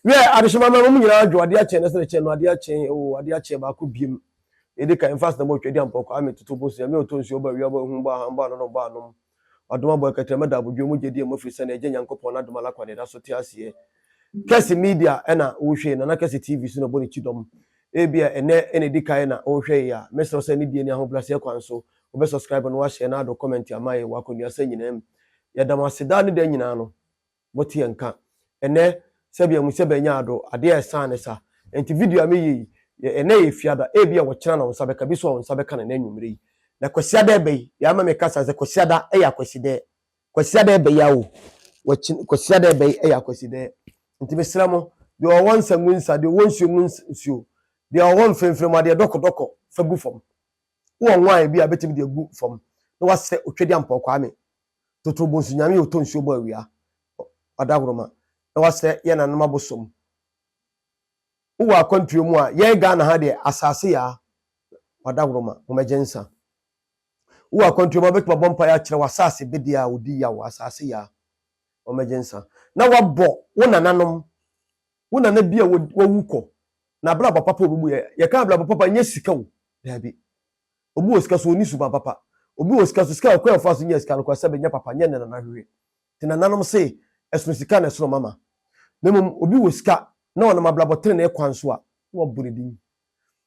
Wiɛ, adehyema mma mum nyinaa dwo adeɛ akyɛn na sɛdeɛ kyɛn no adeɛ akyɛn oo adeɛ akyɛn baako biem na ɛdi kan mfa asnam ɔtwa di ampɔ kwaa me toto bosea me ɔtɔ nsuo ɔbɔ awia ɔbɔ ahum ɔbɔ ahan ɔbɔ anono ɔbɔ anom ɔdom abɔ ɛkɛtrɛ mɛda abodwoɔ mu gyedie mu ɛfiri sɛ na Agya Nyankopɔn n'adom ala kwa na ɛda so te aseɛ Kɛse media ɛna wohwɛ Nana Kɛse TV so na ɛbɔ ne ti dɔm ebia ɛnɛ ɛna ɛdi kan na wohwɛ yɛ a mɛsrɛ wo sɛ ne die ne ahobrɛaseɛ kwan so wobɛ subscribe no wahyɛ na ado comment ama yɛ wɔ akɔnduasa nyinaa mu yɛda mo ase daa ne da nyinaa no Moteɛ nka. Ɛnɛ sɛbi ɛmu sɛ bɛnya ado, adeɛ ɛsan ne sa. Ɛnti video a meyɛ yi, ɛnɛ yɛ Fiada, ebia ɔkyena na wonsa bɛka, biso a wonsa bɛka no ɛnɛ anwumerɛ yi. Na Kwasiada ɛbɛ yi, deɛ ama meka saa sɛ Kwasiada ɛyɛ Akwasidɛɛ. Kwasiada ɛbɛ yi a o, wɔkyena, Kwasiada ɛbɛ yi ɛyɛ Akwasidɛɛ. Nti mesrɛ mo, deɛ ɔwɔ nsa ngu nsa, deɛ ɔwɔ nsuo mu nsuo, deɛ ɔwɔ mfremfrem mu adeɛ dɔkɔ dɔkɔ fa gu fam. Wowɔ nwan bi a bɛtumi de agu fam na wasrɛ Otwadiampɔɔ Kwame Totoro bonsu nyame yɛ ɔtɔ nsuo bɔ awia ɔdahoroma na wasrɛ yɛ nanom abosom wowɔ akwantuo mu a yɛn Ghana ha deɛ asase yaa ɔdahoroma momɛgye nsa wowɔ akwantuo mu a wobɛtumi abɔ mpaeɛ akyerɛ wɔ asase bedeɛ a ɔdi yaw asase yaa momɛgye nsa na wabɔ wo nananom wo nana bi a wawu kɔ na abrabɔ papa obi mu yɛ yɛka abrabɔ papa nyɛ sika o daabi Obi wɔ sika so onni suban papa. Obi wɔ sika so, sika a ɔkwan a ɔfaa so nyaa sika no koraa sɛ ɛbɛnyɛ papa nyɛ ne nana hwehwɛ. Te nananom se, ɛsono sika na ɛsono mama. Na mmom obi wɔ sika na ɔnam abrabɔ trenee kwan so a, na wɔabu ne din.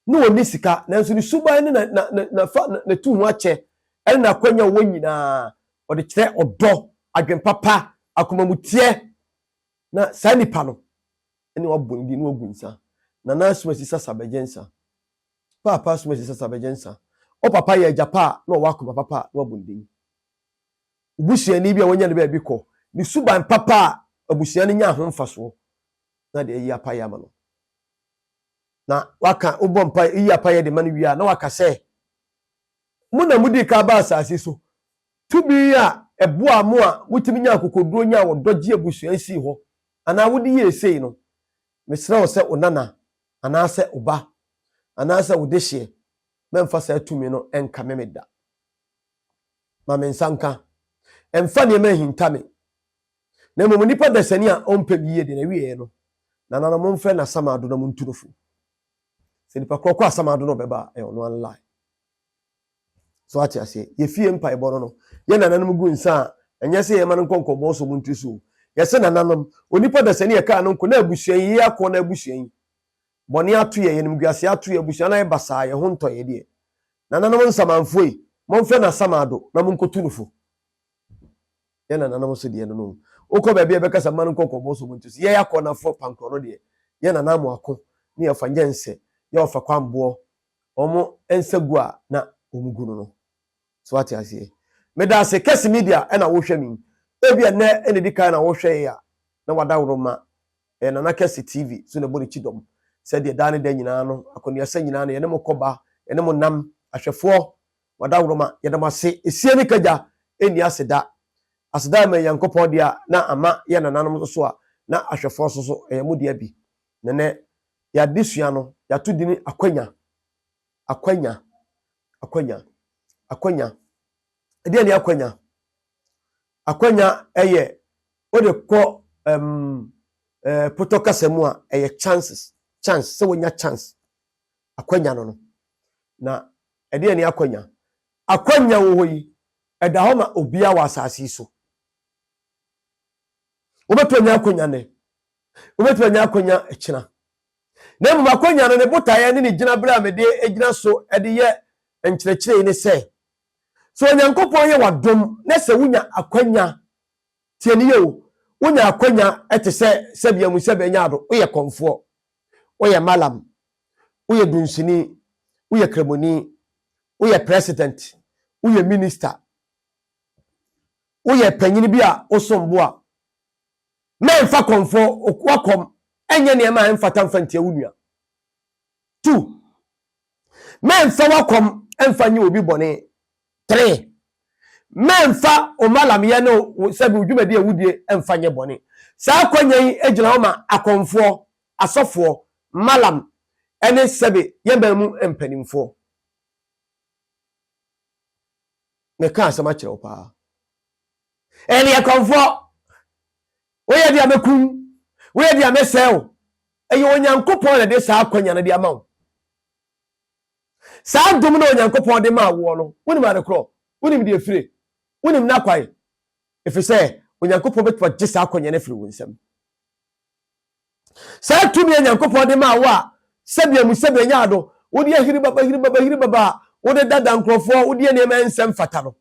Na onni sika, nanso ne suban ne na na na fa na tu ho akyɛ ne n'akwanya a ɔwɔ nyinaa, ɔde kyerɛ ɔdɔ, adwene papa, akomamuteɛ. Na saa nipa no, ɛne wɔabɔ ne din na wɔagu nsa. Nana Asumasi Sasa Bɛgyensah. Paapa som ɛsɛ sɛ sa bɛgye nsa. Wo papa yɛ agya pa a na ɔwɔ akoma papa a na wabɔ ne din. Wo busuani bi a wanya ne baabi kɔ, ne suban papa a abusua no nya ho mfasoɔ na de ayi apaeɛ ama no. Na waka wobɔ mpa yi apaeɛ de ma no wie a na waka sɛ mo na modi ka ba asase so tumi a ɛboa mo a motumi nya akokoduo nya ɔdɔ gye abusua nsii hɔ anaa wode yie sei no Mesrɛ wo sɛ wo nana anaasɛ wo ba anaasɛ wo dehyeɛ mɛmfa saa tumi no nkame me da. Ma me nsa nka. Mfa nneɛma nhinta me. Na mmom nnipa dasani a ɔmpɛ me yie deɛ na wieɛ no, nananom momfrɛ no asamado na montu no fo. Sɛ nipa korɔ kɔ asamado na ɔbɛba a, ɛyɛ ɔno anlae. So ate aseɛ? Yɛfie mpaebɔ no no, yɛ nananom gu nsa a, ɛnyɛ sɛ yɛma no nkɔ nkɔmmɔ so mu ntiri so o. Yɛse nananom, onipa dasani a ɛkaa no nko, na abusua yi, yei akoɔ no abusua yi, bɔne ato yɛn, animguaseɛ ato yɛn, abusua no ayɛ basaa, yɛn ho ntɔ yɛn deɛ. Nananom nsamanfoɔ yi, monfrɛ no asamado na monkɔtu no fo. Yɛ nananom so deɛ no no. Wokɔ baabi a ɛbɛkasa mma no nkɔ nkɔmmɔ so mu ntiri so. Yɛ akɔnafoɔ pankorɔ no deɛ, yɛ nananom ako, ne yɛfa nyɛnsɛ, yɛ ɔfakɔ amboɔ, wɔn nsa gu a na wɔn gu no no so ate aseɛ meda ase kɛse media ɛna wohwɛ me ebi ɛnɛ ɛna edi kan na wohwɛ yɛ a na wada woro ma ɛyɛ nana kɛse tv so na ɛbɔ ne ti dɔm sɛdeɛ daa ne da nyinaa no akɔneasa nyinaa no yɛne mo kɔba yɛne mo nam ahwɛfoɔ wada woro ma yɛda mo ase esie ne kagya ɛnni ase da ase da ma nyankopɔn deɛ a na ama yɛ nananom nso so a na ahwɛfoɔ nso so ɛyɛ mo deɛ bi nɛnɛ Yɛn adesua no, yɛato din Akwanya. Akwanya. Akwanya. Akwanya. Ɛdeɛn ne akwanya? Akwanya ɛyɛ wode kɔ um, eh, potɔ kasa mu a ɛyɛ chances chance sɛ wonya chance akwanya no no na ɛdeɛ ne akwanya akwanya wɔ hɔ yi ɛda hɔ ma obiara wɔ asase yi so wobɛtumi anya akwanya nnɛ Wobɛtumi anya akwanya kyena. Na mmom akwanya no ne botaeɛ ne ne gyinaberɛ a mede gyina so de yɛ nkyerɛkyerɛ yi ne sɛ, sɛ Onyankopɔn yɛ w'adom na sɛ wonya akwanya, tie no yie o, wonya akwanya te sɛ Sɛbi Amu Sɛbi Anya Addo, woyɛ kɔmfoɔ, woyɛ Mallam, woyɛ dunsini, woyɛ kramoni, woyɛ president, woyɛ minister, woyɛ panyini bi a wosom bo a, na ɛmfa kɔmfoɔ, okoakɔm, ɛnyɛ nneɛma a ɛmfata mfa ntia wo nua. Two, mɛmfa wakɔm mfa nye obi bɔne. Three, mɛmfa omalamyɛ ne sɛbi odwumadi a wudie mfa nye bɔne. Saa akwanya yi gyina hɔ ma akɔmfoɔ, asɔfoɔ, malam, ɛne sɛbi yɛn man mu mpanimfoɔ. Meka asɛm akyerɛ wo paa. Ɛyɛ kɔmfoɔ. Woyɛ deɛ mɛkum, woyɛ deɛ mɛsɛe wo. Ɛyɛ Onyankopɔn na ɛde saa akwanya no de ama wo. Saa dom no a Onyankopɔn de maa woɔ no, wonim ade korɔ, wonim deɛ efire, wonim n'akwan, ɛfiri sɛ Onyankopɔn bɛtumi agye saa akwanya no afiri wo nsam. Saa tumi a Onyankopɔn de maa wo a sɛbea mu sɛbea nya ado, wode ahiri baba, hiri baba, hiri baba a wode dada nkurɔfoɔ, wode nneɛma nsɛm fata no,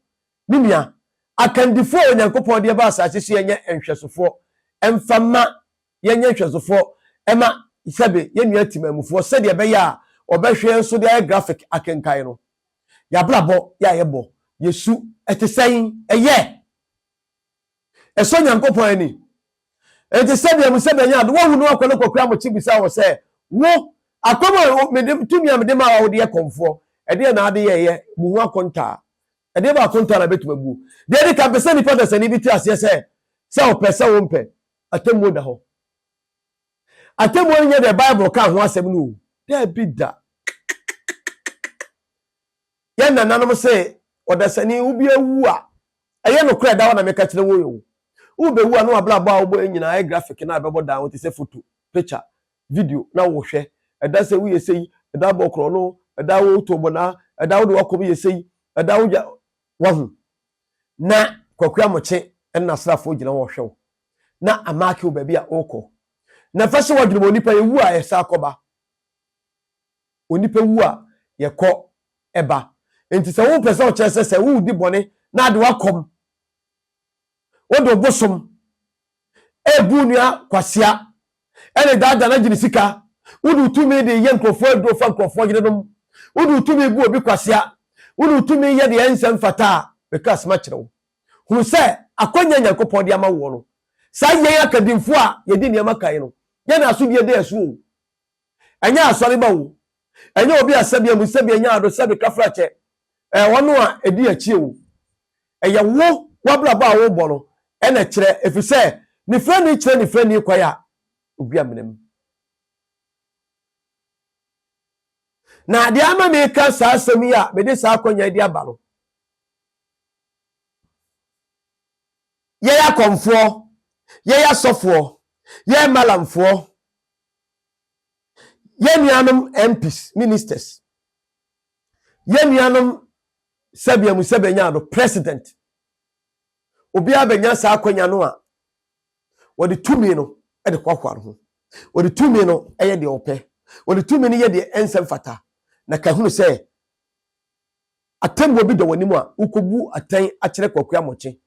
Me nua, akandifoɔ a Onyankopɔn de aba asase so yɛnyɛ nhwɛsofoɔ mfa mma yɛnyɛ nhwɛsofoɔ mma sɛbe yɛn nua timanmufoɔ sɛdeɛ ɛbɛyɛ a wɔbɛhwɛ yɛn so de ayɛ graphic akenkan no. Y'abrabɔ yɛ a yɛbɔ yɛ su ɛte sɛn? Ɛyɛ ɛsɔ Nyankopɔn ani? Enti sɛdeɛ mo sɛbe ɛnyɛ ade wɔhu no akɔ no kɔkura mo kye bisa wɔ sɛ wo akɔm a mede tumi a mede maa wo de yɛ kɔmfoɔ ɛdeɛ na ade yɛ ɛyɛ mo ho akontaa Ɛdeɛ baako ntaa na ɛbɛtumi abuo. Deɛ ɛdi kan, pɛ sɛ nipa dasani bi te aseɛ sɛ, sɛ ɔpɛ sɛ ɔmpɛ, atemmuo da hɔ. Atemmuo no nyɛ deɛ Bible kaa ho asɛm no o. Daabi da. Yɛn nananom se, ɔdasani, wobi awu a, ɛyɛ nokorɛ da hɔ na meka kyerɛ wo yi o. Wobɛwu a na wabrabɔ a wobɔ nyinaa ayɛ graphic no a ɛbɛbɔ dan ho te sɛ foto, picture, video na wohwɛ, ɛda sɛ woyɛ sei, ɛda bɔ korɔno, ɛda wotɔ bɔnaa, ɛda wode wakɔm yɛ sei, ɛda wogya wahu. Na Kwaku Amokye ne n'asraafoɔ gyina hɔ hwɛ wo na amaake wo baabi a wokɔ. Na mfa hyɛ w'adwene mu, onipa yɛwu a yɛsan kɔba. Onipa wu a yɛkɔ ɛba. Nti sɛ wopɛ sɛ ɔkyerɛ sɛ sɛ wodi bɔne na ade wakɔm, wode obosom Ebu onua kwasea ne daadaa na gye ne sika. Wode wo tumi de yɛ nkurɔfoɔ aduro fa nkurɔfoɔ yerenom. Wode wo tumi bu obi kwasea. Wode wo tumi yɛ deɛ ɛnsɛ mfata a, meka asɛm akyerɛ wo. Hunu sɛ akwanya a Nyankopɔn de ama woɔ no, saa yɛn akadimfoɔ a yɛdi nneɛma kan no, yɛn na asodie da yɛn so o. Ɛnyɛ asɔreba o, ɛnyɛ obi a sɛbea mu sɛbea nya ado sɛbe kafrakyɛ ɛɛ ɔno a ɛdi akyie o. Ɛyɛ wo w'abrabɔ a wobɔ no ɛna ɛkyerɛ ɛfiri sɛ nifirani kyerɛ nifirani kwan a ogu amena mu. Na deɛ ama meka saa asɛm yi a mede saa akɔnya yi de aba no, yɛyɛ akɔmfoɔ, yɛyɛ asɔfoɔ, yɛyɛ malamfoɔ, Yɛn nuanom MPs, Ministers, yɛn nuanom sɛbea mu sɛbea nya do, President, obiara bɛnya saa akwanya no a wɔde tumi no de hoahoa no ho. Wɔde tumi no yɛ deɛ wɔpɛ. Wɔde tumi no yɛ deɛ ɛnsɛ mfata. Na ka hunu sɛ atɛmmuo bi da w'anim a, wokɔbu atɛn akyerɛ Kwaku Amokyɛ.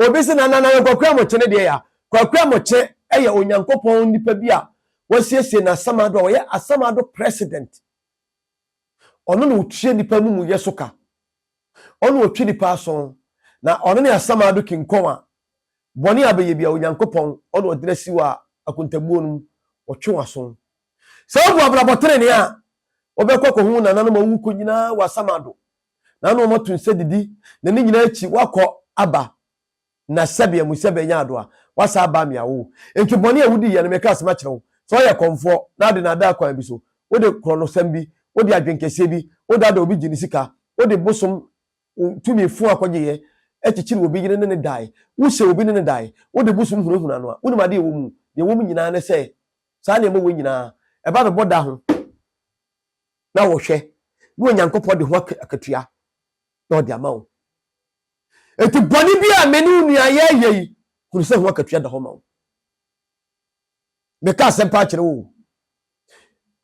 Obi se na na na Kwaku Amokyɛ ne deɛ yɛ a, Kwaku Amokyɛ yɛ Onyankopɔn nipa bi a wasiesie no Asamado a ɔyɛ Asamado President. Ɔno na ɔtua nipa amumuyɛ so ka. Ɔno ɔtwe nipa aso na ɔno ne Asamado King Kong a bɔne a bɛyɛ bia Onyankopɔn ɔna ɔdena si wɔ a akontabuo no mu, ɔtwe w'aso. Sɛ wobu abrabɔ trenee a, wɔbɛkɔ akɔhu wo nananom a wɔawu kɔ nyinaa wɔ asamado, na na wɔato nsa didi, na ne nyinaa akyi woakɔ aba na sɛbea mu sɛ bɛanya ado a, woasan aba amea wo. Enti bɔne a wudi yɛ no, mereka asɛm akyerɛ wo, sɛ woyɛ kɔmfoɔ na wode nnaadaa kwan bi so, wode korɔnosɛm bi, wode adwenkɛseɛ bi, wodaadaa obi gye ne sika, wode bosom tumi fua kɔgyeeɛ, kyekyere obi yere ne no dae, wohyɛ obi ne no dae, wode bosom hunahuna no a, wonim ade a ɛwɔ mu? Deɛ ɛwɔ mu nyinaa ne sɛ Saa nneɛma wɔ nyinaa, ɛba bɛbɔ da ho na wɔhwɛ na Onyankopɔn de ho akatua na ɔde ama wo. Enti bɔne bi a me ne wo nua yɛyɛ yi, hunu sɛ ho akatua da hɔ ma wo. Meka asɛm paa kyerɛ wo.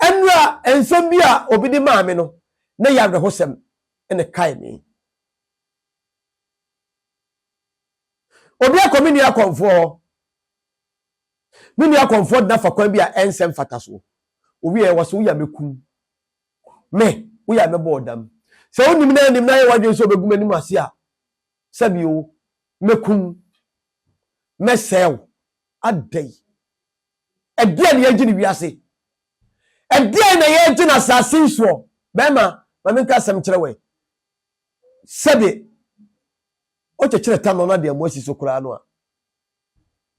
Ɛnura nsɛm bi a obi de maa me no, na yɛ awerɛhosɛm na kae me. Obi akɔ me nua akɔmfoɔ hɔ. Me nua Comfort na fa kwan bi a ɛnsɛ mfatasoɔ. Ɔwieɛ ɔse woyɛ a mɛkum me, woyɛ a mɛbɔ wo dam. Sɛ wonim na anim na ayɛ w'adwene sɛ ɔbɛgu m'anim ase a, sɛbi o, mɛkum wo, mɛsɛe wo. Adɛn? Ɛdeɛn na yɛregye no wiase? Ɛdeɛn na yɛregye no asase yi soɔ? Bɛrima, ma menka asɛm nkyerɛ wo ɛ, sɛbe wokyekyere ta no na de amu asi so koraa no a,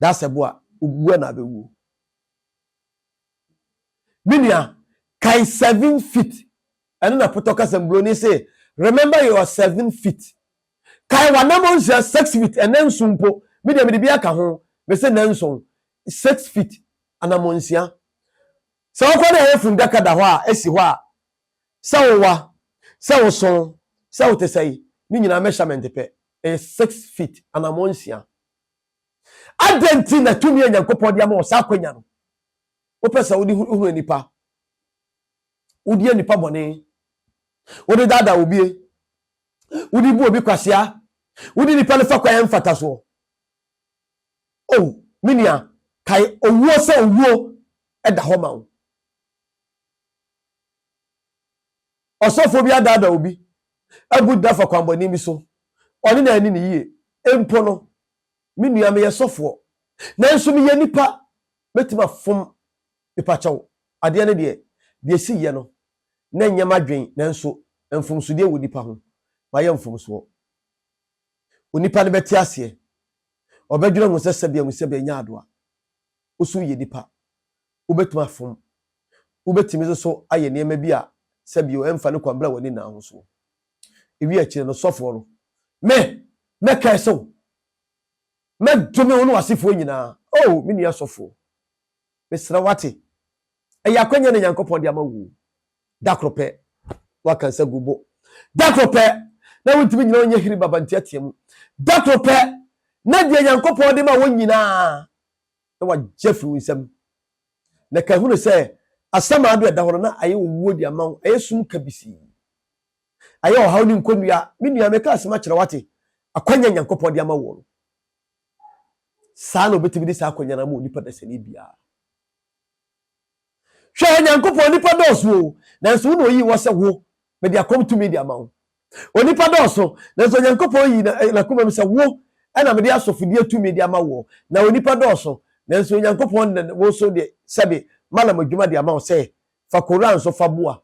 That's a boa. Ogugu na abɛwuo. Me nua, kae seven feet. Ɛno na potɔ kasa mburoni se, remember your seven feet. Kae w'anamɔ nsia six feet, ɛnɛ nson mpo. Me deɛ mede bi aka ho. Me se nɛ nson, six feet, anamɔ nsia. Sɛ wokɔ na ɛyɛ fundaka da hɔ a, esi hɔ a, sɛ wowa, sɛ woso, sɛ wote sɛe, ne nyinaa measurement pɛ. Ɛyɛ six feet, anamɔ nsia. Adɛn nti na tumi a Nyankopɔn de ama wɔ saa akwanya no, wopɛ sɛ wode hunu nnipa? Wodi nnipa bɔne, wode daadaa obie, wode bu obi kwasea, wode nnipa no fa kwan a ɛmfata soɔ. O, oh, me nua, kae owuo sɛ owuo da hɔ ma wo. Ɔsɔfoɔ bi adaadaa obi abu da afa kwanbɔne bi so, ɔne no anni no yie. Mpo no, me nua, meyɛ sɔfoɔ, nanso meyɛ nipa, mɛtumi afom nipa kyɛw. Adeɛ no deɛ, deɛ ɛsiiɛ no, na ɛnyɛ m'adwen, nanso mfomsodeɛ wɔ nipa ho, mayɛ mfomsoɔ. Onipa no bɛte aseɛ, ɔbɛdwene ho sɛ sɛbea mu sɛbea nyɛ adoa, wo so woyɛ nipa, Wobɛtumi afom. Wobɛtumi nso so ayɛ nneɛma bi a sɛ bio ɛmfa ne kwan bra w'ani nna ho so. Ewie akyire no sɔfoɔ no, Me! Mɛkɛɛse wo! Mɛdome wo ne w'asefoɔ nyinaa! Oh! Me nua sɔfoɔ, mesrɛ wo ate? Ɛyɛ akwanya na Nyankopɔn de ama wuo. Da koro pɛ na waka nsa gu wo bo. Da koro pɛ na wontumi nyina ɔnyɛ hiri baba nteatea mu. Da koro pɛ na deɛ Nyankopɔn de ma wo nyinaa. na wagye afiri wo nsam. Na ka hunu sɛ asɛm a ado ɛda hɔ no na ayɛ owuo de ama wo, ayɛ sum kabisii, ayɛ ɔhaw ne nkonnua. Me nua, meka asɛm akyerɛ wo ate, akwannya a Nyankopɔn de ama woɔ no, saa na ɔbɛtumi de saa akwannya no ama onipa dasani biara. Hwɛ, Onyankopɔn, nnipa dɔɔso o, nanso wo na oyii wɔ sɛ wo, mede akɔm tumi de ama wo. Onipa dɔɔso, nanso Onyankopɔn yii eh, n'akomam sɛ wo, ɛna mede asɔfodie tumi de ama woɔ. Na onipa dɔɔso, nanso Onyankopɔn de wo nso de sɛde Malam adwuma de ama wo sɛ fa Koran so fa boa.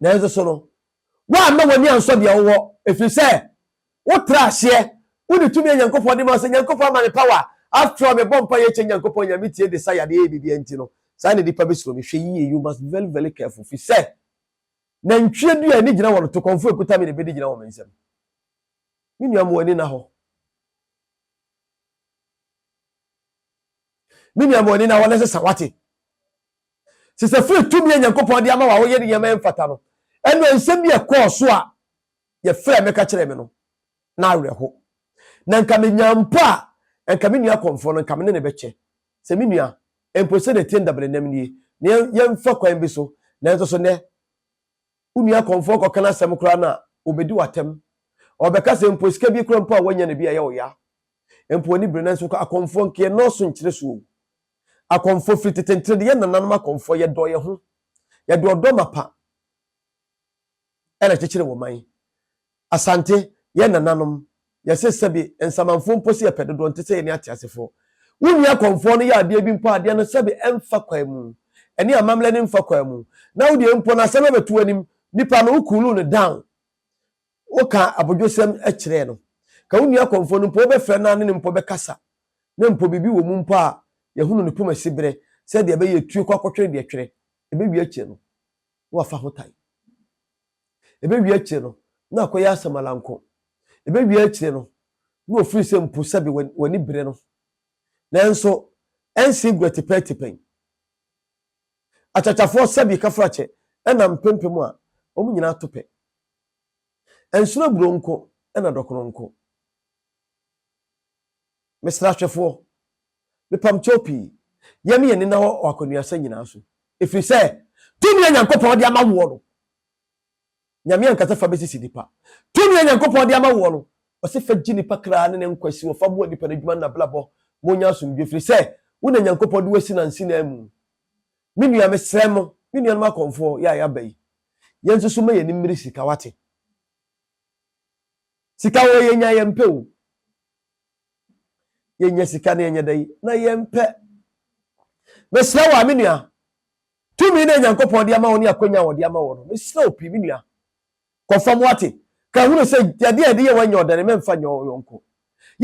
Nanso so no, woamma w'ani ansɔ deɛ wowɔ, ɛfiri sɛ wotra aseɛ, wone tumi a Nyankopɔn de ma wo sɛ, Nyankopɔn ama me power, after all mebɔ mpaeɛ kyɛ Nyankopɔn nya me tie desire de yɛ biribiara nti no, saa na nnipa bɛsuro me, hwɛ yie, you must be very very careful, firi sɛ nantwie dua a ani gyina wɔn to kɔmfoɔ ɛkuta me na ɛbɛdi gyina wɔ me nsam. Me nua ma w'ani na hɔ. Me nua ma w'ani na hɔ na sesa wate. Te sɛ firi tumi a Nyankopɔn de ama wo a woyɛ no nneɛma a ɛmfata no, ɛnna nsɛm bi a ɛkɔɔ so a yɛfrɛɛ me ka kyerɛɛ me no, na awerɛho. Na nka menya mpo a, anka me nua kɔmfoɔ no, nka me ne no bɛkyɛ sɛ me nua, mpo sɛdeɛ ɛteɛ no dabelenam nie, na yɛn, yɛmfa kwan bi so. Nanso so nnɛ, wo nua kɔmfoɔ kɔka n'asɛm koraa no a, ɔbɛdi wo atɛm. Ɔbɛka sɛ mpo sika bi koraa mpo a woanya no bi a, ɛyɛ wo ya. Mpo w'ani bere, nanso akɔmfoɔ nka yɛnnɔɔso nkyerɛ so o. Akɔmfoɔ firi tetentene de yɛn nananom akɔmfoɔ yɛ dɔɔ yɛn ho yɛde ɔdɔ mapa ɛna kyekyere wɔ man Asante yɛn nananom yɛse sɛbi nsamanfoɔ mpo se yɛpɛ dodoɔ nte sɛ yɛne ateasefoɔ wonni akɔmfoɔ no yɛ adeɛ bi mpo a adeɛ no sɛbi ɛmfa kwan mu ɛne amammerɛ no mfa kwan mu na wodeɛ mpo no asɛm ɛbɛto w'anim nipa no wo cool no down Woka abodwosɛm kyerɛ no. Ka wo nua kɔmfoɔ no mpo, wobɛfrɛ no a ne no mpo bɛkasa, na mpo biribi wɔ mu mpo a yɛhunu ne poma siberɛ sɛ deɛ ɛbɛyɛ ɛtue kɔ akɔtwere deɛ ɛtwere. Ɛbɛwie akyire no na wafa ho tan. Ɛbɛwie akyire no na akɔyɛ asamalanko. Ɛbɛwie akyire no na ɔfiri sɛ mpo sɛbe w'ani bere no. Nanso ɛnse gurɛ tepɛtepɛn. Akyakyafoɔ sɛbe kafrakyɛ ɛnam mpempem a, wɔn nyinaa to pɛ. Ɛnsono aburoo nko na dɔkono nko. Mesrɛ ahwɛfoɔ, mepam kyɛw pii, yɛne yɛn ani nna hɔ wɔ akɔneasɛm nyinaa so, ɛfiri sɛ tumi a Nyankopɔn de ama woɔ no, Nyame ankasa fa bɛsisi nipa. Tumi a Nyankopɔn de ama woɔ no, ɔse fa gye nipa kra ne ne nkwa si hɔ, fa boa nipa no adwuma ne n'abrabɔ ma ɔnya asomdwoe, ɛfiri sɛ wo na Nyankopɔn de wo asi nansi nan mu. Me nua, mesrɛ mo, me nuanom akɔmfoɔ, yɛ a yɛaba yi, yɛnsusu mma yɛn ani mmere sika, woate? Sika wɔ yɛnya yɛmpɛ o. Yɛnya sika na yɛnyɛ dɛn? Na yɛmpɛ. Mesrɛ wo a, me nua, tumi na Nyankopɔn de ama wo ne akwanya a wɔde ama wɔ no, mesrɛ wo pii, me nua, Kɔ fam wate. Ka hunu sɛ adeɛ a yɛde yɛ wo nyɛ ɔdane, mɛmfa nyɛ wo yɔnko.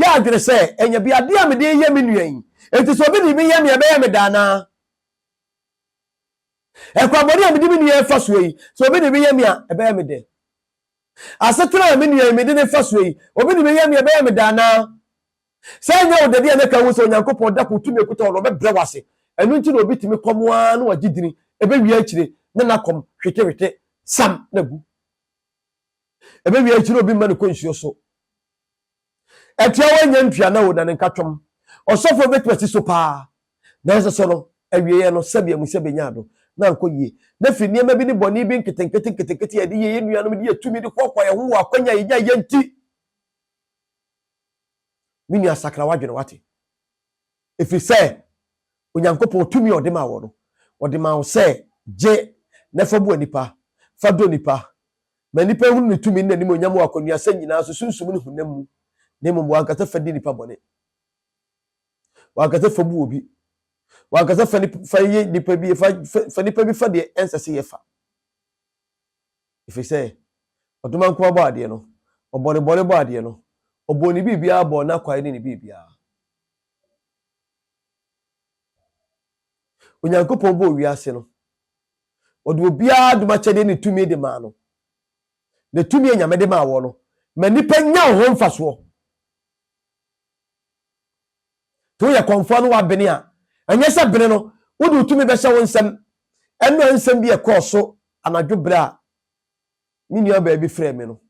Yɛ adwene sɛ, ɛnyɛ bi adeɛ a mede reyɛ me nua yi, enti sɛ obi de bi yɛ me a ɛbɛyɛ me dɛ anaa? Ɛkwammɔne a mede me nua refa soɔ yi, sɛ obi de bi yɛ me a ɛbɛyɛ me dɛ? Asetena a me nua yi mede no refa soɔ yi, obi de bi yɛ me a ɛbɛyɛ me dɛ anaa? Sɛ ɛnyɛ wo dɛ deɛ na ɛka ahu sɛ Onyankopɔn da koro tumi a ɛkuta wo no ɔbɛbrɛ wo ase. Ɛno nti na obi tumi kɔm ara na wagye dini, ɛbɛwie akyire na n'akɔm hwetehwete sam na agu. Ɛbɛwie akyire obi mma no kɔ nsuo so. Ɛtiawa nya ntuana o na ne nka twɔm. Ɔsɔfoɔ bɛtumi asi so paa nanso so no awieɛ no sɛbi amu sɛ bɛnya ado na ankɔ yie. Na firi nneɛma bi ne bɔne bi nketenkete nketenkete a yɛde yɛ yɛn nuanom de yɛ tumi de hoahoa yɛn ho wɔ akwanya a yɛnya yɛ nti. Me nua sakra w'adwene wate. Ɛfiri sɛ Onyankopɔn tumi a ɔde maa wɔ no, ɔde maa wo sɛ gye na fa bua nnipa, fa dɔ nnipa. Ma nnipa nhunu ne tumi ne n'animuonyam wɔ akwannuasɛm nyinaa so, sunsum ne honam mu, na mmom w'ankasa fa di nnipa bɔne. W'ankasa fa bu obi. W'ankasa fa nip, fa yɛ nnipa bi, fa, fa, fa nnipa bi fa deɛ ɛnsɛ sɛ yɛfa. Ɛfiri sɛ Ɔdoma nkoa bɔɔ adeɛ no, Ɔbɔɔ ne bɔne bɔɔ adeɛ no, Ɔbɔɔ ne biribiara bɔɔ n'akwae ne ne biribiara. Onyankopɔn bɔɔ wiase no, Ɔde obiara adom akyɛdeɛ ne tumi de maa no. Na tumi a Nyame de maa wɔ no, ma nnipa nya ho mfasoɔ. Sɛ woyɛ kɔmfoɔ na woabene a, ɛnyɛ sɛ bene no wode wo tumi bɛhyɛ wo nsam. Ɛnna nsɛm bi a ɛkɔɔ so anadwo berɛ a me nuabaa bi frɛɛ me no,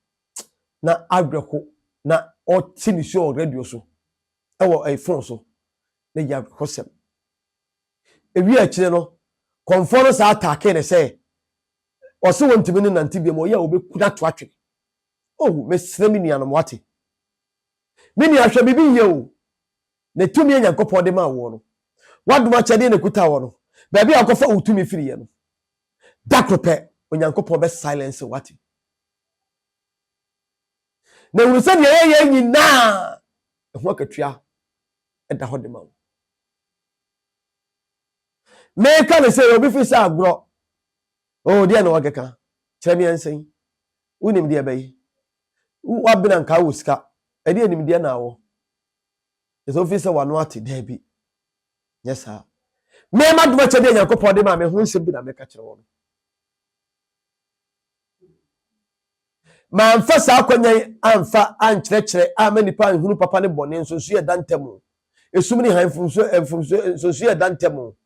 na awerɛho na ɔte ne su wɔ radio so, wɔ fon so, na ɛyɛ awerɛhosɛm. Ewie akyire no, kɔmfoɔ no saa ataakee no sɛ ɔse wɔntumi ne nante biom, ɔyɛ a wɔbɛku no ato atwene. Oh, mesrɛ me nuanom, wate? Me nua, hwɛ biribi yie o, ne tumi a Nyankopɔn de maa woɔ no, w'adom akyɛdeɛ na ɛkuta wo no, baabi a wokɔfa wo tumi firiiɛ no, da koro pɛ, Onyankopɔn bɛ silence wo, wate? Na hunu sɛ deɛ yɛyɛ nyinaa, ɛho akatua ɛda hɔ de ma wo. Meka ne sɛ obi fi sɛ agorɔ, o deɛ na wɔkeka, kyerɛ me ɛnsɛn. Wo nimdeɛ bɛyi. Wo w'abena nkaa wo sika. Ɛdeɛ nimdeɛ na awɔ. Ɛsɛ wofii sɛ w'ano ate daabi. Nyɛ saa. Me m'adom akyɛdeɛ Nyankopɔn de maa me ho nsɛm bi na meka kyerɛ wɔn. Mamfa saa akwanyan amfa ankyerɛkyerɛ ama nipa anhunu papa ne bɔne nsonsoyɛ da ntam o. Esum ne han mfomso mfomso nsonsoyɛ da ntam o.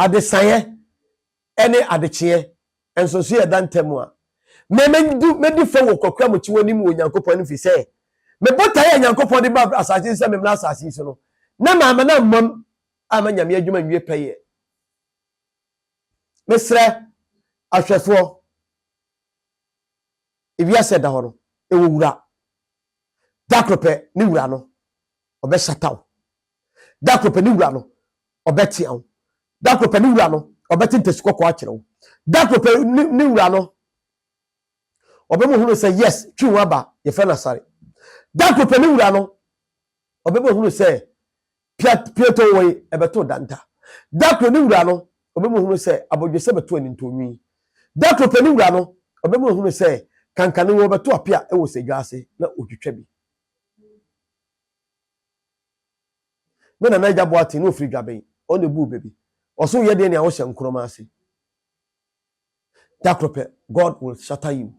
Adesaeɛ ne adekyeɛ nso so yɛ da ntam a, me mɛdu mɛdi fɛ wɔ kokoram kyi wɔ anim wɔ Onyankopɔn anim firi sɛ me botaeɛ a Onyankopɔn de ba asase yi so sɛ me mmra asase yi so no na mamma no ammam amma Nyame adwuma nwie pɛyɛ. Mesrɛ ahwɛfoɔ, ewiase ɛda hɔ no ɛwɔ wura, da koro pɛ ne wura no ɔbɛhyata wo. Da koro pɛ ne wura no, ɔbɛtea wo. Da koro pɛ ne wura no, ɔbɛte ntasu kɔkɔɔ akyerɛ wo. Da koro pɛ ne wura no, ɔbɛma ohunu sɛ yes, twi ho aba, yɛfrɛ no asare. Da koro pɛ ne wura no, ɔbɛma ohunu sɛ piatoo wei ɛbɛto danta. Da koro ne wura no, ɔbɛma ohunu sɛ abodwesɛ bɛto anintɔnwi. Da koro pɛ ne wura no, ɔbɛma ohunu sɛ kankane wɔbɛto apia wɔ sɛ dwa ase na otwitwa bi. Me nana Agya Boateng na ɔfiri Dwaben, ɔno na ɛbuu bɛ bi. Ɔse woyɛ deɛ nea wohyɛ nkorɔma ase. Da koro pɛ, God will shatter you.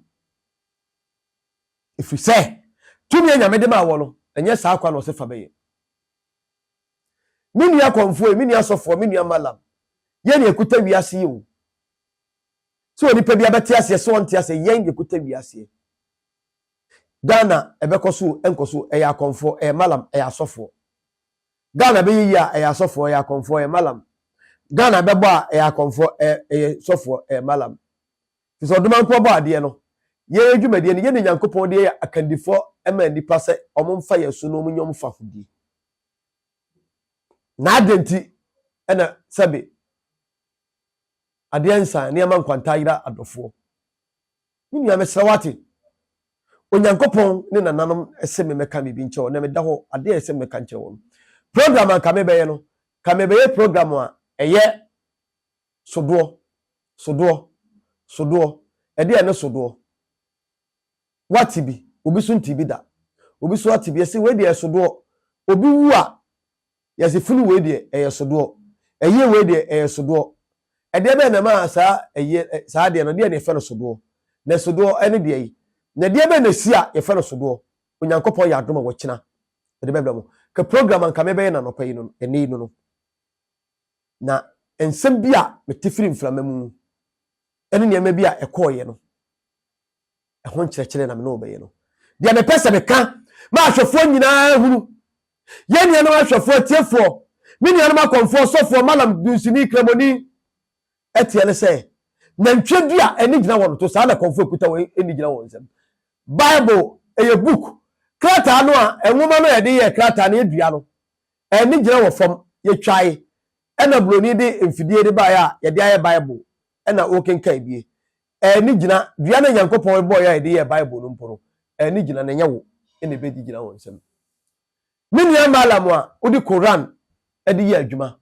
Ɛfiri sɛ, tumi a Nyame de maa wɔ no, ɛnyɛ saa kwa na ɔse fa bɛyɛ. Me nua kɔmfoɔ yi, me nua sɔfoɔ, me nua malam, yɛn na yɛkuta wiase yi o. Sɛ onipa bi abɛte aseɛ, sɛ ɔnte aseɛ, yɛn na yɛkuta wiaseɛ. Ghana ɛbɛkɔ so o ɛnkɔ so ɛyɛ akɔmfoɔ ɛyɛ malam ɛyɛ asɔfoɔ Ghana ɛbɛyɛ yie a ɛyɛ asɔfoɔ ɛyɛ akɔmfoɔ ɛyɛ malam Ghana ɛbɛbɔ a ɛyɛ akɔmfoɔ ɛyɛ ɛyɛ sɔfoɔ ɛyɛ malam Fisɛ ɔdomankɔ bɔ adeɛ no yɛn adwumadie no yɛne Nyankopɔn deɛ yɛ akandifoɔ ɛma nnipa sɛ wɔn mfa yɛn so na wɔn nyɛ wɔn fahodie na adɛn nti ɛna sɛbe adeɛ nsan nneɛma nkwanta ayera adɔfoɔ Me nua, mesrɛ wo ate. Onyankopɔn ne nananom se memmɛka biribi nkyerɛ wo, na meda hɔ. Adeɛ a ɛsɛ sɛ meka nkyerɛ wo no, program a nka mebɛyɛ no, nka mebɛyɛ program a ɛyɛ sodoɔ, sodoɔ, sodoɔ, ɛdeɛ a ɛne sodoɔ. Woate bi, obi so ntee bi da. Obi so ate bi, ɛse wei deɛ ɛsodoɔ. Obi wu a, Yɛse funu wei deɛ ɛyɛ sodoɔ, ɛyeɛ wei deɛ ɛyɛ sodoɔ. Ɛdeɛ bɛn na ɛma saa ɛyeɛ saa adeɛ no ɛdeɛ na yɛfrɛ no sodoɔ? Na sodoɔ ɛne deɛ yi? Na ɛdeɛ bɛn na ɛsi a yɛfrɛ no sodoɔ? Onyankopɔn yɛ adom a wɔkyena ɛde bɛbrɛ mo. Ka program a nka mɛbɛyɛ no anɔpa yi no ɛnɛ yi no no. Na nsɛm bi a mete firi mframa mu ɛne nneɛma bi a ɛkɔɔeɛ no. Ɛho nkyerɛkyerɛ na me ne wo bɛyɛ no. Deɛ mepɛ sɛ meka ma ahwɛfoɔ nyinaa hunu, yɛn nuanom ahwɛfoɔ, atiefoɔ, me nuanom akɔmfoɔ, sɔfoɔ, malam, dunsini, kramoni, ɛteɛ ne sɛ, nantwie dua ani gyina wɔn to, saa na kɔmfoɔ ɛkuta wɔn ani gyina wɔn nsam. Bible ɛyɛ book, krataa no a nwoma no a yɛde yɛ krataa no yɛdua no, ani gyina wɔ fam, yɛtwae, ɛna buroni de mfidie de baeɛ a yɛde ayɛ Bible, ɛna wokenkan bie. Ɛɛ ne gyina dua na Nyankopɔn bɔɔ yɛ a yɛde yɛɛ Bible no mpo no, ɛɛ ne gyina na ɛnyɛ wo na ɛbɛdi gyina wɔ nsam. Me nua Malam a wode Koran de yɛ adwuma,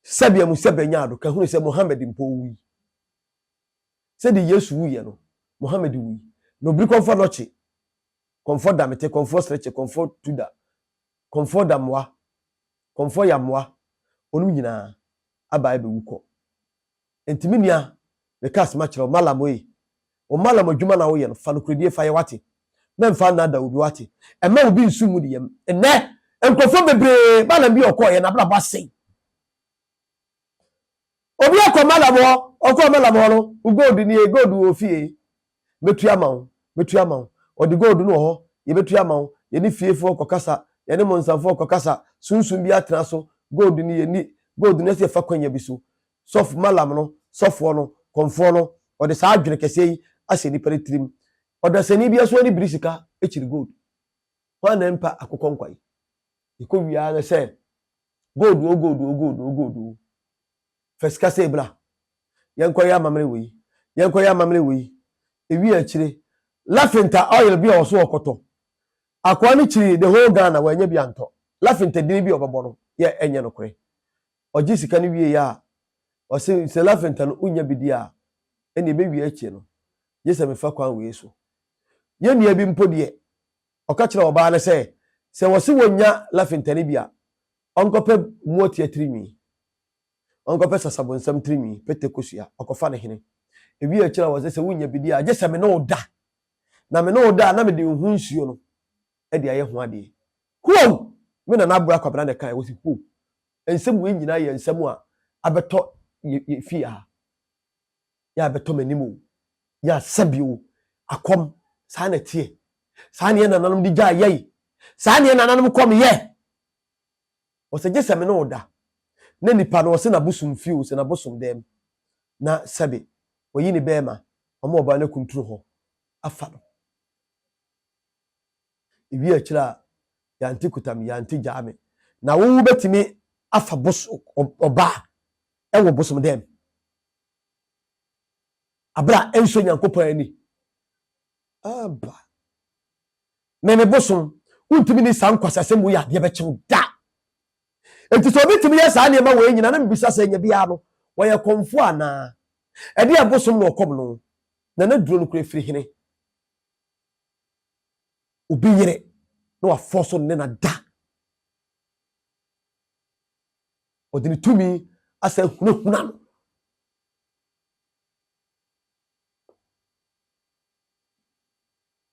sɛbea mu sɛbɛ nya ado ka hunu sɛ Mohammed mpo owui. Sɛdeɛ Yesu wuiɛ no, Mohammed wui. Na obiri kɔmfɔ nɔkye, kɔmfɔ damete, kɔmfɔ srekye, kɔmfɔ tuda, kɔmfɔ damoa, kɔmfɔ yamoa, ɔnom nyinaa abae bɛwu kɔ. Enti me nua, meka asɛm akyerɛ wo, Malam ei, wo Malam adwuma na woyɛ no, fa nokorɛdie fa yɛ, woate? Mɛmfa nnaadaa obi, woate? Mma obi nso mmu ne yam. Nnɛ, nkurɔfoɔ bebree, Malam bi a ɔkɔeɛ, n'abrabɔ asɛe. Obi akɔ Malam hɔ, ɔkɔɔ Malam hɔ no, wo gold nie, gold wɔ wo fie, mɛtua ama wo mɛtua ama wo ɔde gold no wɔ hɔ yɛbɛtua ama wo yɛne fiefoɔ kɔkasa yɛne monsanfoɔ kɔkasa sunsum bi atena so gold no yɛni gold no ɛsɛ yɛfa kwanya bi so sɔf malam no sɔfoɔ no kɔmfoɔ no ɔde saa adwene kɛseɛ yi ahyɛ nipa no tirim ɔdasani bi aso ani biri sika akyiri gold hwan na mpa akokɔ nkwa yi yɛkɔ wiaa no sɛ gold o gold o gold o gold o Fa sika sei bra, yɛnkɔyɛ amammerɛ wei, yɛnkɔyɛ amammerɛ wei. Ewie a akyire, Lafinta oil bi a ɔso ɔkɔtɔ. Akoa no kyiri the whole Ghana, wannya bi antɔ. Lafinta din bi a ɔbɛbɔ no yɛ ɛnyɛ nokorɛ. Ɔgye sika no wieeɛ a, ɔse sɛ Lafinta no wonnya bi di a, ɛnneɛ ɛbɛwie akyire no, gye sɛ mefa kwan wei so. Yɛn nua bi mpo deɛ, ɔka kyerɛɛ ɔbaa no sɛ, sɛ wɔse wɔnnya Lafinta no bi a, Ɔnkɔpɛ moatia tirinwi. Ɔnkɔpɛ sasabonsam tirinwi, pete kosua, ɔkɔfa ne hene. Ewie a ɔkyerɛ wɔn sɛ, Sɛ wunnya bi di a, gye sɛ me ne wo da, na me ne wo da a, na mede nhu nsuo no de ayɛ ho adeɛ. Huom! Me nana Abura Kwabena na ɛkaeɛ. Wɔsi, Huom! Nsɛm wei nyinaa yɛ nsɛm a abɛtɔ yɛ, yɛ fie ha. Yɛ abɛtɔ m'anim o, yɛ asa bi o, akɔm, saa na ɛteɛ. Saa ne yɛn nananom de gyae yɛe. Saa ne yɛn nananom kɔm yɛ. Ɔsɛ gye sɛ me ne wo da. Na nipa no ɔsɛ n'abosom fie o, sɛ n'abosom dɛm. Na sɛbe wayi ne bɛɛma ama ɔbaa no akunturu hɔ afa no. Ewie akyire a, yante kuta me, yante gyaa me. Na wo wo bɛtumi afa bos ɔbaa ɛwɔ bosom dɛm. Abere a ɛnsɔ Nyankopɔn ani. Aba. ne ne bosom. Wontumi nni saa nkwaseasɛm wei adeɛ bɛkye wo da. Enti sɛ obi tumi yɛ saa nneɛma wei nyina na mebisa sɛ nya biara no wɔyɛ kɔmfoɔ anaa? Ɛdeɛ ɛbosom na ɔkɔm no na na duro no kura firi hene. Obi yere na wafɔ so ne na da. Ɔde ne tumi asɛ hunahuna no.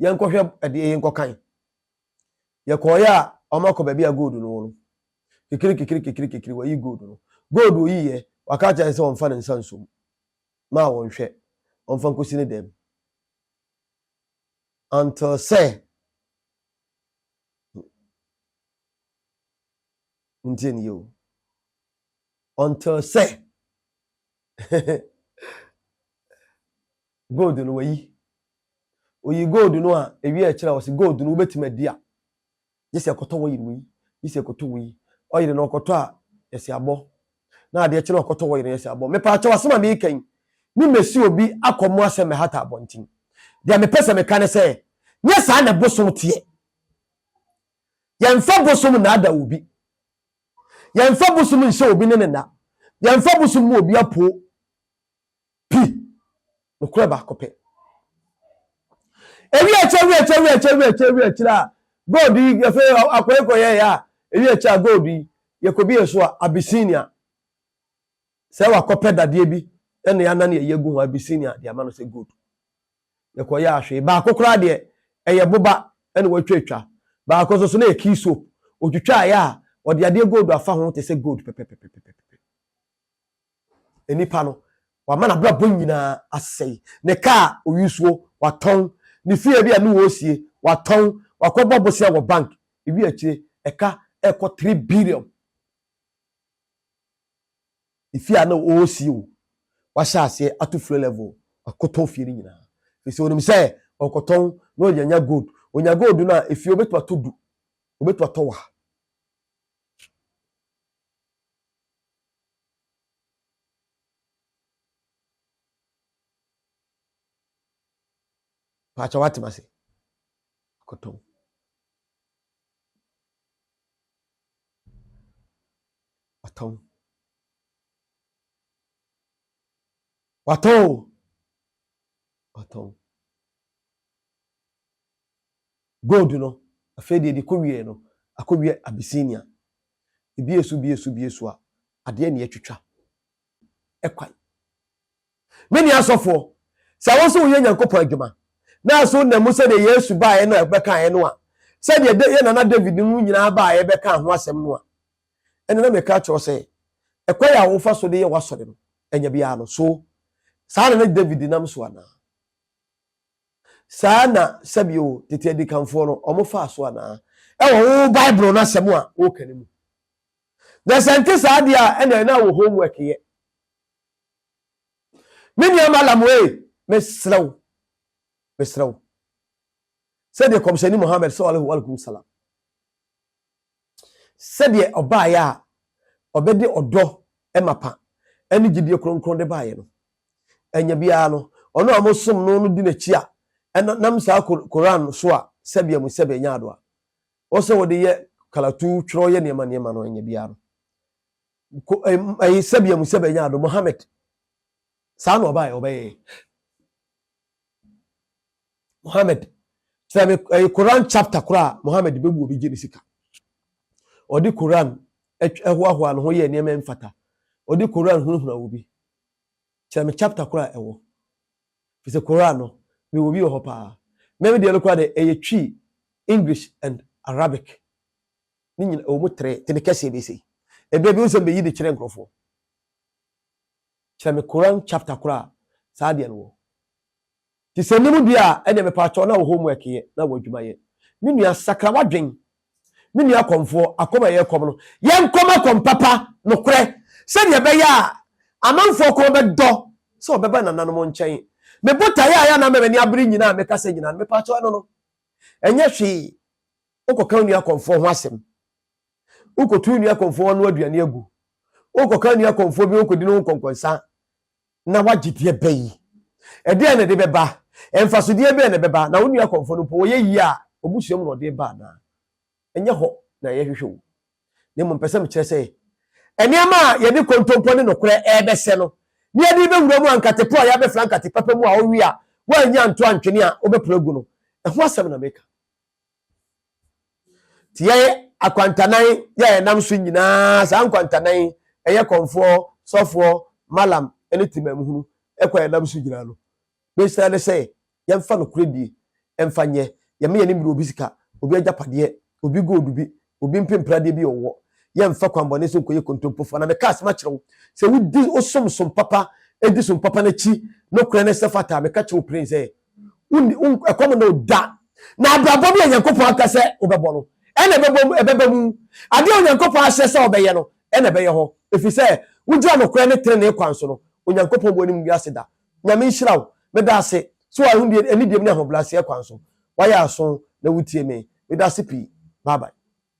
yɛnkɔhwɛ ɛdeɛ yɛnkɔkan. Yɛkɔɔeɛ a wɔn akɔ baabi a gold no wɔ no. Kekere kekere kekere kekere wɔyi gold no. Gold oyiiɛ, waka akyerɛ yɛn sɛ wɔmfa ne nsa nsom. Maa wɔnhwɛ, wɔmfa nkɔsi ne dan mu. Until sɛ ntie ne yɛ o. Until sɛ Gold no wayi. Oyi gold no a, ewie a ɛkyerɛ a ɔse gold no wobɛtumi adi a, gye sɛ ɛkɔtɔ oil wei, gye sɛ ɛkɔtɔ wei. Oil no ɔkɔtɔ a, yɛse abɔ. Na adeɛ kye no a ɔkɔtɔ oil no yɛse abɔ. Mepaakyɛw asɛm a meeka yi, me mɛsi obi akɔ mmoa sɛ mmɛhata abɔnten. Deɛ mepɛ sɛ meka ne sɛ, nyɛ saa na bosom teɛ. Yɛmfa bosom nnaadaa obi. Yɛmfa bosom nhyɛ obi ne ne nna. Yɛmfa bosom mmu obi apoo. Pi, nokorɛ baako pɛ. Ewi akyire, ewi akyire, ewi akyire, ewi akyire, ewi akyire a, gold yi yɛfɛ akɔyɛ kɔyɛ yɛ a, ewi akyire a gold yi yɛkɔ bi yɛ so a Abyssinia. Sɛ wakɔpɛ dadeɛ bi ɛna yɛanan yɛ yɛ gu ho Abyssinia de ama no sɛ gold. Yɛkɔ yɛ ahwɛ baako koraa deɛ ɛyɛ boba ɛna wɔatwa atwa. Baako nso so na yɛ key soap. Otwitwa yɛ a ɔde adeɛ gold afa ho te sɛ gold pɛpɛpɛpɛpɛpɛ. Nnipa no, wama n'abrabɔ nyinaa asɛe. Ne kaa a ɔuse o, watɔn. Ne fie bi a ne ɔresie, watɔn. Wakɔbɔ bosea wɔ bank. Ewie akyire, ɛka rekɔ three billion. Ne fie a ne ɔresie o, wahyɛ aseɛ ato floor level, wakɔtɔn fie no nyinaa. Ɛfiri sɛ ɔnim sɛ ɔkɔtɔn na ɔde anya gold. Ɔnya gold no a, efie ɔbɛtumi atɔ du, ɔbɛtumi atɔ wa. Pakyɛ wate ma se koto. Watɔn. Watɔn. Watɔn. Gold no, afei deɛ deɛ kɔwieɛ no, akɔwie Abyssinia. Ebue so, bue so, bue so a, adeɛ na yɛatwitwa kwan. Me nua asɔfoɔ, sɛ wo nso woyɛ Nyankopɔn adwuma, na nso wonam mu sɛdeɛ Yesu baeɛ no a ɛbɛkaeɛ no a, sɛdeɛ Da- yɛn nana David no mu nyinaa baeɛ bɛkaa ho asɛm no a, ɛnna na meka akyerɛ wo sɛ, ɛkwan a wofa so de yɛ w'asɔre no, ɛnyɛ biara no. So saa na na David nam so anaa? Saa na sɛbio tete adikanfoɔ no wɔfaa so anaa? Ɛwɔ wo Bible no asɛm a woreka no mu. Na sɛ nte saa deɛ a, ɛna ɛna wɔ homework yɛ. Me nua Malam ee, mesrɛ wo, mesrɛ wo, sɛdeɛ kɔmhyɛni Muhammad sallallahu alaihi wasallam Sɛdeɛ ɔbaeɛ a ɔbɛde ɔdɔ mapa ne gyidie kronkron de baeɛ no, ɛnyɛ biara no, ɔno a mosom no no di n'akyi a ɛna nam saa Koran so a sɛbea mu sɛbea nya adoa wɔ sɛ wɔde yɛ kalatu twerɛ yɛ nneɛma nneɛma no, ɛnyɛ biara no ko ɛyi sɛbea mu sɛbea nya ado Mohammed saa na ɔbaeɛ ɔbɛyɛ Mohammed tena me ɛyɛ Koran chapter koraa a Mohammed bɛbu obi gye ne sika. Ɔde Koran ɛhoahoa ne ho yɛ nneɛma mfata. Ɔde Koran hunahuna obi. Kyerɛ me chapter koraa a ɛwɔ. Fi sɛ Koran no, mewɔ bi wɔ hɔ paa. Me me deɛ no koraa de ɛyɛ twi English and Arabic. Ne nyina ɛwɔ mu tere, tene kɛseɛ bɛsei. Ɛberɛ bi wo sɛ mbɛyi de kyerɛ nkurɔfoɔ. Kyerɛ me Koran chapter koro a saa adeɛ no wɔ. Nti sɛ nnim deɛ a, ɛnneɛ mepaakyɛw na wo homework yɛ na wo adwuma yɛ. Me nua, sakra w'adwen. Me nua kɔmfoɔ, akɔm a ɛyɛ kɔm no, yɛnkɔm akɔm papa, nokorɛ, sɛdeɛ ɛbɛyɛ a amanfoɔ kɔn bɛdɔ sɛ wɔbɛba nananom nkyɛn. Me botaeɛ a ɛyɛ a na ama m'ani abere nyinaa a mekasa nyinaa no, mepaakyɛw ɛno no, ɛnyɛ hwee. Wokɔka wo nua kɔmfoɔ ho asɛm Worekɔto wo nua kɔmfoɔ ano aduane agu. Worekɔka wo nua kɔmfoɔ bi ɔnkɔdi ne ho nkɔnkɔnsa na woagye deɛ bɛn? Ɛdeɛn na ɛde bɛba? Mfasodeɛ bɛn na ɛbɛba? Na wo nua kɔmfoɔ no mpo, ɔyɛ yie a, w'abusua mu na ɔde reba anaa? Ɛnyɛ hɔ na yɛhwehwɛ o, na mmom pɛ sɛ mekyerɛ sɛ, nneɛma a yɛde kontompo ne nokorɛ rebɛsɛ no, na yɛde rebɛwura mu a, nkate po a yɛabɛfra nkate papa mu a wowe a woannya anto antwene a wobɛpra agu no, ɛho asɛm na meka. Nti yɛn akwantanan yɛ a yɛnam so nyinaa, saa nkwantanan yi, ɛyɛ kɔmfoɔ, sɔfoɔ, malam ne temamuhunu kɔ a yɛnam so nyinaa no. Bɛhyira ne sɛ yɛmfa nokorɛ die mfa nyɛ, yɛmma yɛn ani mmere obi sika, obi agyapadeɛ, obi gold bi, Obi mpem pradeɛ bi ɔwɔ. Yɛ nfa kwanbɔne so nkɔyɛ kontompofoɔ. Na meka asɛm akyerɛ wo, sɛ wodi wo som som papa, di som papa no akyi, nokorɛ ne sɛ fata a, meka kyerɛ wo peren sɛ, wonni, wo, ɛkɔm nna wo da. Na abrabɔ bi a Nyankopɔn aka sɛ wobɛbɔ no, ɛna ɛbɛbɔ mu, ɛbɛba mu. Adeɛ a Onyankopɔn ahyɛ sɛ ɔbɛyɛ no, ɛna ɛbɛyɛ hɔ. Ɛfiri sɛ, wogyina nokorɛ ne trenee kwan so no, Onyankopɔn boɔ nnim wiase da. Nyame nhyira wo. Medaase sɛ wahu deɛ anidiem ne ahobraseɛ kwan so wayɛ aso na wotie me. Medaase pii. Bye bye.